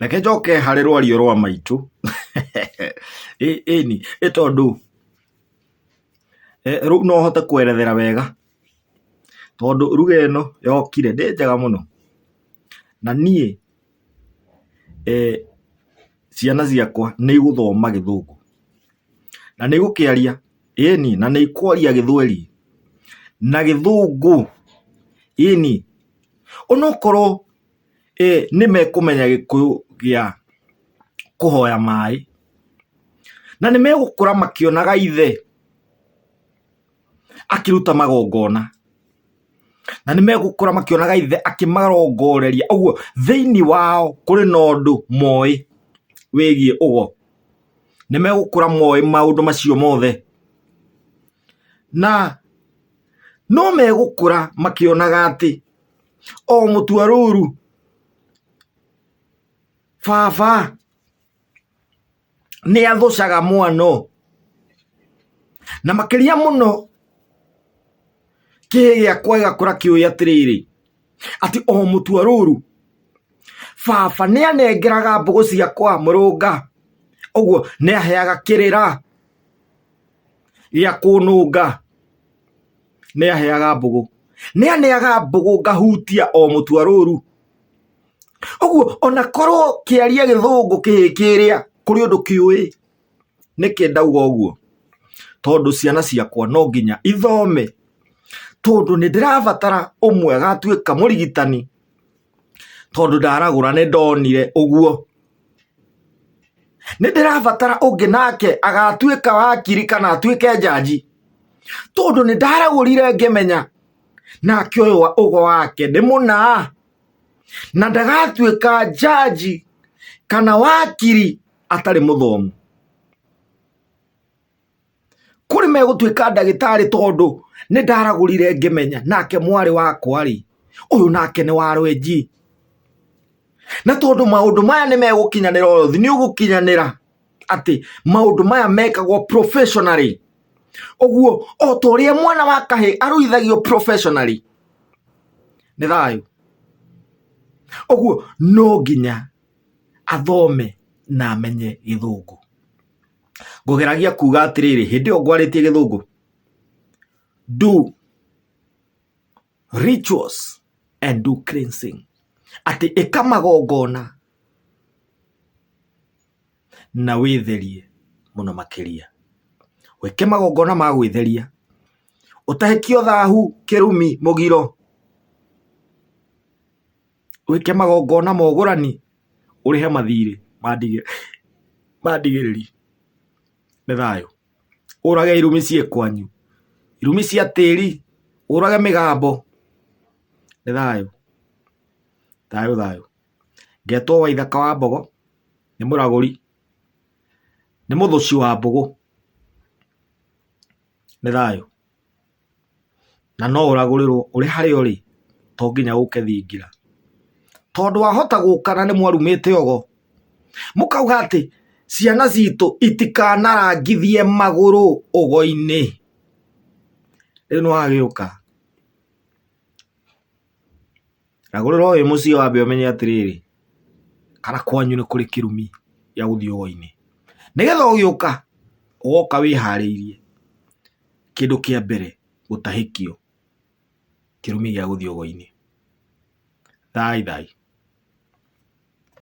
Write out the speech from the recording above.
Reke njoke harĩ rwario rwa maitũ ĩni ĩ tondũ rĩu no hote kwerethera wega tondũ ruga ĩno yokire ndĩ njega mũno na niĩ ciana ciakwa nĩ igũthoma gĩthũngũ na nĩ igũkĩaria ĩni na nĩ ikwaria gĩthweri na gĩthũngũ ĩni. Onokorwo nĩ mekũmenya gĩkũyũ gĩa kũhoya maĩ, na nĩ megũkũra makĩonaga ithe akĩruta magongona, na nĩ megũkũra makĩonaga ithe akĩmarongoreria. Ũguo thĩinĩ wao kũrĩ na ũndũ moĩ wĩgiĩ ũgo. Nĩ megũkũra moĩ maũndũ macio mothe. Na no megũkũra makĩonaga atĩ o mũtwa rũru baba nĩ athũcaga mwana ũũ. Na makĩria mũno kĩhĩ gĩakwa gĩgakũra kĩũĩ atĩrĩrĩ, atĩ o mũtwa rũru baba nĩ anengeraga mbũgũ ciakwa mũrũnga, ũguo nĩ aheaga kĩrĩra. gĩa kũnũnga. Nĩaheaga mbũgũ. Nĩaneaga mbũgũ ngahutia o mũtwa rũru. Ũguo ona korwo kĩaria gĩthũngũ kĩhĩ kĩrĩa kũrĩ ũndũ kĩũĩ. Nĩkĩ ndauga ũguo? Tondũ ciana ciakwa no nginya ithome. Tondũ nĩndĩrabatara ũmwe agatuĩka mũrigitani. tondũ ndaragũra nĩ ndonire ũguo nĩ ndĩrabatara ũngĩ nake agatuĩka wakiri kana atuĩke njanji tondũ nĩ ndaragũrire ngĩmenya nake ũyũ wa- ũgo wake nĩ mũna na ndagatuĩka njanji kana wakiri atarĩ mũthomu kũrĩ megũtuĩka ndagĩtarĩ tondũ nĩ ndaragũrire ngĩmenya nake mwarĩ wakwa rĩ ũyũ nake nĩ wa rwenji na tondũ maũndũ maya nĩ megũkinyanĩra ũthi nĩ ũgũkinyanĩra atĩ maũndũ maya mekagwo professionally ũguo o ta ũrĩa mwana wa kahĩ arũithagio professionally nĩ thayũ ũguo no nginya athome na amenye gĩthũngũ ngũgeragia kuga atĩrĩrĩ hĩndĩ ĩyo ngwarĩtie gĩthũngũ do rituals and do cleansing atĩ ĩka magongona na wĩtherie mũno makĩria wĩke magongona ma gwĩtheria ũtahĩkio thahu kĩrumi mũgiro wĩke magongona ma ũgũrani, ũrĩhe mathiirĩ ma ndigĩrĩri. Nĩ thayũ. Ũũrage irumi ciĩ kwanyu, irumi cia tĩĩri, ũũrage mĩgambo. Nĩ thayũ. Thayũ thayũ. Ngetwo Waithaka wa Mbogo, nĩ mũragũri, nĩ mũthũũci wa mbũgũ. nĩ thayũ, na no ũragũrĩrwo ũrĩ harĩa ũrĩ to nginya ũke thingira, tondũ wahota gũka na nĩ mwarumĩte ogo, mũkauga atĩ ciana citũ itikanarangithie magũrũ ũgo-inĩ, rĩu nĩ wagĩũka. Na gũrũra ũyũ mũciĩ wambe ũmenye atĩrĩrĩ, kana kwanyu nĩ kũrĩ kĩrumi gĩa gũthiĩ ũgoinĩ. Nĩgetha ũgĩũka, ũgoka wĩharĩirie, kĩndũ kĩa mbere gũtahĩkio kĩrumi gĩa gũthiĩ ũgoinĩ. Thaai thaai.